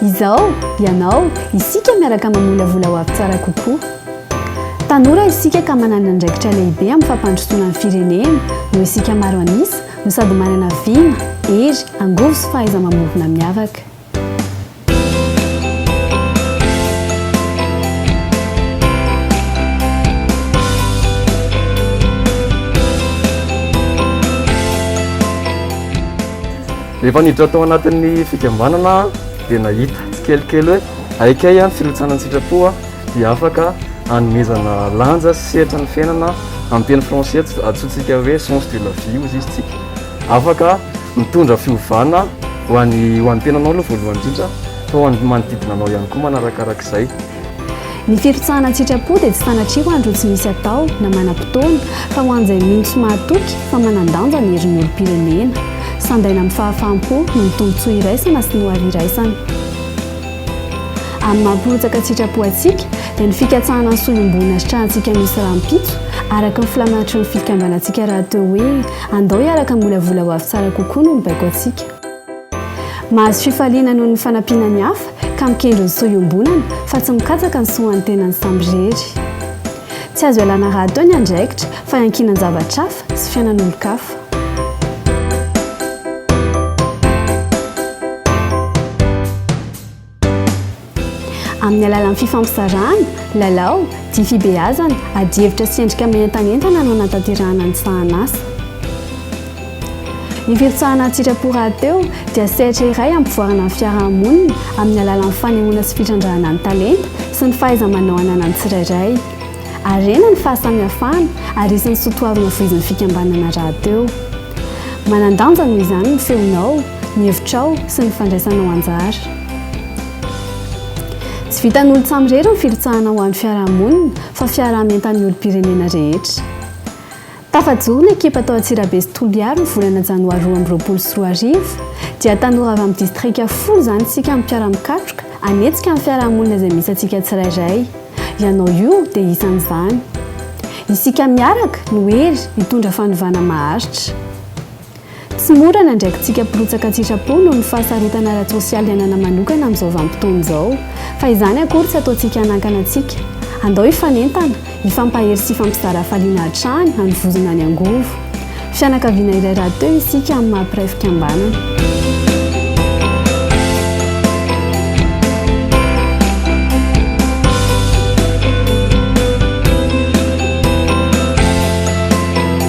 Izaho, ianao, isika miaraka mamolavola ho avy tsara kokoa. Tanora isika ka manana andraikitra lehibe amin'ny fampandrosoana ny firenena noho isika maro an'isa no sady manana vina, hery, angovo sy fahaiza-mamorona miavaka. Rehefa niditra tao anatin'ny fikambanana dia nahita tsikelikely hoe aika ihany firotsana an-tsitrapo dia afaka hanomezana lanja sy sehatry ny fiainana amin'ny teny français atsointsika hoe sens de la vie hoy izy isika. Afaka mitondra fiovana ho an'ny ho an'ny tenanao aloha voalohany indrindra fa ho an'ny manodidina anao ihany koa manarakarak'izay. Ny firotsahana an-tsitrapo dia tsy sanatria ho an'ireo tsy misy atao na manam-potoana fa ho an'izay mino sy mahatoky fa manan-danja ny herin'ny olom-pirenena. Sandaina amin'ny fahafaham-po noho ny tombontsoa iraisana sy ny hoavy iraisana. Amin'ny maha mpirotsaka an-tsitrapo antsika dia ny fikatsahana ny soa iombonana sitrahantsika misy rahampitso araka ny filaminatry ny fikambanantsika rahateo hoe Andao hiaraka hamolavola ho avy tsara kokoa noho ny baiko antsika. Mahazo fifaliana noho ny fanampiana ny hafa ka mikendry ny soa iombonana fa tsy mikatsaka ny soa ho an'ny tenany samirery. Tsy azo ialana rahateo ny andraikitra fa iankinan-javatra hafa sy fiainan'olon-kafa. Amin'ny alalan'ny fifampizarana, lalao, dia fibeazana, adihevitra sy endrika mientanentana no anatanterahana ny sahanasa. Ny firotsahana an-tsitrapo rahateo dia sehatra iray ampivoarana ny fiarahamonina amin'ny alalan'ny fanehoana sy fitrandrahana ny talenta sy ny fahaiza-manao ananan'ny tsirairay. Harena ny fahasamihafana ary isan'ny soatoavina voizin'ny fikambanana rahateo. Manan-danja noho izany ny feonao. ny hevitrao sy ny fandraisanao anjara. Tsy vitan'olon-tsaha irery ny firotsahana ho an'ny fiarahamonina fa fiaraha-mientan'ny olom-pirenena rehetra. Tafajoro ny ekipa tao Antsirabe sy Toliary ny volana janoary roa amby roapolo sy roa arivo, dia tanora avy amin'ny distrika folo izany isika amin'ny mpiara-mikatroka hanetsika ny fiarahamonina izay misy antsika tsirairay. Ianao io dia isan'izany. Isika miaraka no hery hitondra fanovana maharitra. Tsy mora ny andraikitsika mpirotsaka an-tsitrapo noho ny fahasarotana ara-tsosialy iainana manokana amin'izao vanim-potoana izao. Fa izany akory tsy ataontsika hanakana antsika. Andao hifanentana, hifampahery sy hifampizara hafaliana hatrany, hanovozana ny angovo. Fianakaviana iray rahateo isika amin'ny maha mpiray fikambanana.